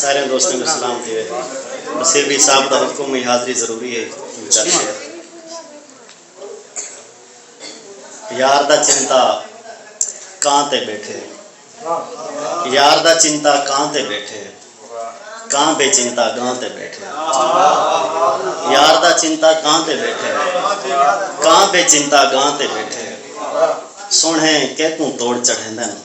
ساریاں دوستاں کوں سلام تھیوے۔ بصیر بھئی صاحب دا حکم ہئی حاضری ضروری ہئی وچال شعر۔ یار دا چنتا کاں تے بیٹھے۔ یار دا چنتا کاں تے بیٹھے۔ کاں بے چنتا گاں تے بیٹھے۔ یار دا چنتا کاں تے بیٹھے۔ کاں بے چنتا گاں تے بیٹھے۔ سونہے کیکوں توڑ چڑھیندن۔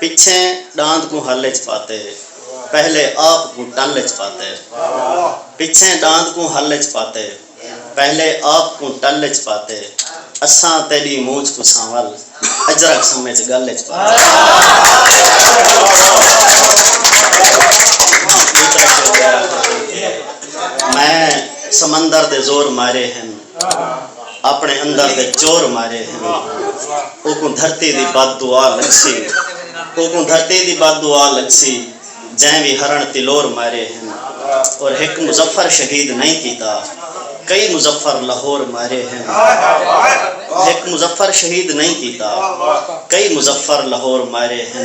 پچھیں ݙاند کوں ہل اچ پاتے پہلے آپ کوں ٹل اچ پاتے پچھیں ݙاند کوں ہل اچ پاتے پہلے آپ کوں ٹل اچ پاتے اساں تیݙی مونجھ کوں سانول اجرک سمجھ ڳل اچ پاتے میں سمندر دے زور مارے ہن۔ اپݨے اندر دے چور مارے ہن اوکوں دھرتی دی بد دعا لڳسی اوکوں دھرتی دی بد دعا لڳسی جئیں وی ہرݨ تلور مارے ہن اور ہک مظفر شہید نئیں کیتا کئی مظفر لہور مارے ہن ہک مظفر شہید نئیں کیتا کئی مظفر لہور مارے ہن۔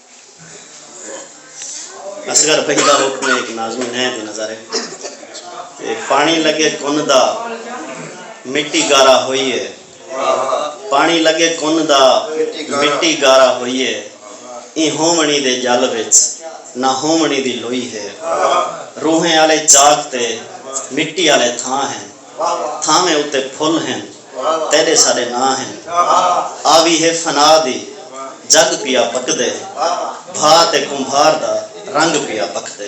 اصغر بھئی دا حکم ہے ہک ناظمین ہے دی نظر ہے تے پاݨی لڳے کن دا مٹی گارا ہوئی ہے پاݨی لڳے کن دا مٹی گارا ہوئی ہے ایں ہووݨی دے ڄل وچ نہ ہووݨی دی لوئی ہے روحیں آلے چاک تے مٹی آلے تھاں ہن تھاویں اتے پھل ہن تیݙے ساݙے ناں ہن آوی ہے فنا دی جڳ پیا پکدے بھا تے کمبھار دا رنگ پیا پکدے۔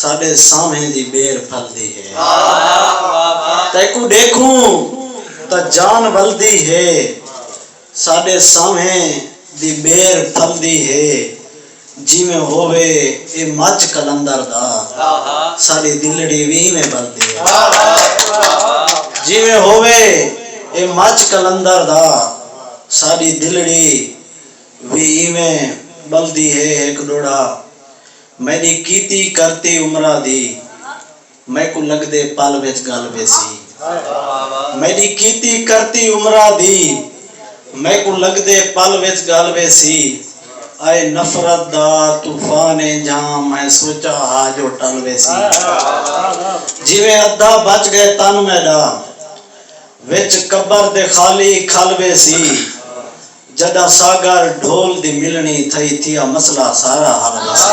ساݙے سانوھیں دی ٻیر پھلدی ہے۔ تیکوں ݙیکھوں تاں جان ولدی ہے۔ ساݙے سانوھیں دی ٻیر پھلدی ہے۔ جیویں ہووے اے مجھ قلندر دا۔ ساݙی دلڑی وی ایویں ٻلدی ہے۔ جیویں ہووے اے مجھ قلندر دا۔ ساݙی دلڑی وی ایویں ٻلدی ہے۔ ہک ݙوڑھا۔ میݙی کیتی کرتی عمراں دی میکوں لڳدے پل وچ ڳل ویسی میݙی کیتی کرتی عمراں دی میکوں لڳدے پل وچ ڳل ویسی اے نفرت دا طوفان ایں جھاں میں سوچاں ہا جو ٹل ویسی جیویں ادھا بچ ڳئے تن میݙا وچ قبر دے خالی کھل ویسی۔ جڈاں ساگر ڈھول دی ملنی تھئی تھیا مسئلہ سارا حل وسے۔